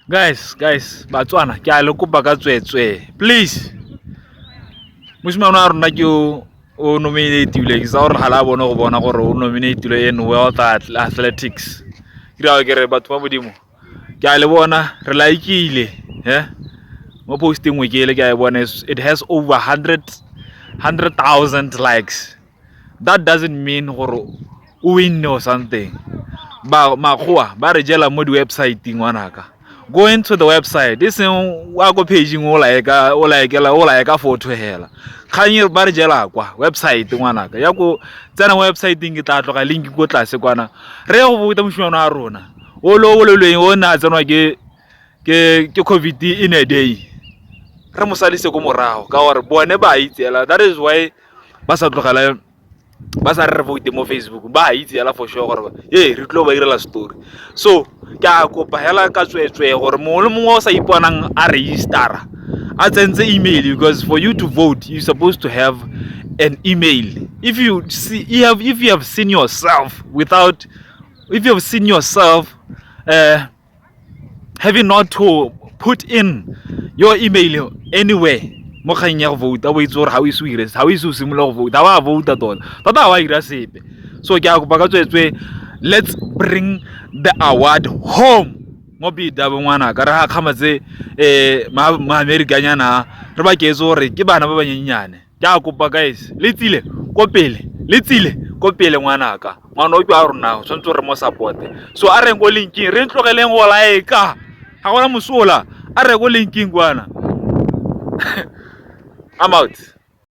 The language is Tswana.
Guys, guys, Batswana, ke a le kopa ka tswetswe. Please. Mosimane wa rona ke o nominative ke sa gore ga la bone go bona gore o nominative in World Athletics. Ke ra ke re batho ba modimo. Ke a le bona re laikile, he? Mo posting we ke le ke a e bona it has over 100 100,000 likes. that doesn't mean gore o winne o something ba makgowa ba re jela mo di-websiteng ngwanaka go into the website e seng wa ko pageng o laeka o laekela o laeka photo hela kganye ba re jela kwa website ngwanaka ya ko tsena websiteng ke tla tloga link ko tlase kwana re go bota moshimano wa rona o lo o lelweng o ne a tsenwa ke ke ke covid in a day re mosalise ko morago ka gore bone ba itseela that is why ba sa tlogela ba sa re vote mo facebook ba itse yala for sure gore ee re tlo ba irela story so ke a kopa hela ka tsweetswee gore mongwe le mongwe o sa iponang a registera a tsentse email because for you to vote you supposed to have an email if you see you have if you have seen yourself without if you have seen yourself uh, have you not to put in your email anywhere mo kgang ya go vouta o itse gore ga o ise o ire ga o ise o simolola go vouta ga wa vouta tota tota ga wa ira sepe so ke a kopa ka tswetswe let's bring the award home mo bidabo ngwana ka re ga kgamatse um eh, maamerikanyana re ba keetse gore ke bana ba banyenyane Ke a kopa guys, le tsile ko pele, le tsile ko pele ngwanaka. Ngwana o a rona, o tshwanetse re mo support-e. So a reng ko linking, re tlogeleng go like. Ga gona mosola. A re ko linking kwana. I'm out.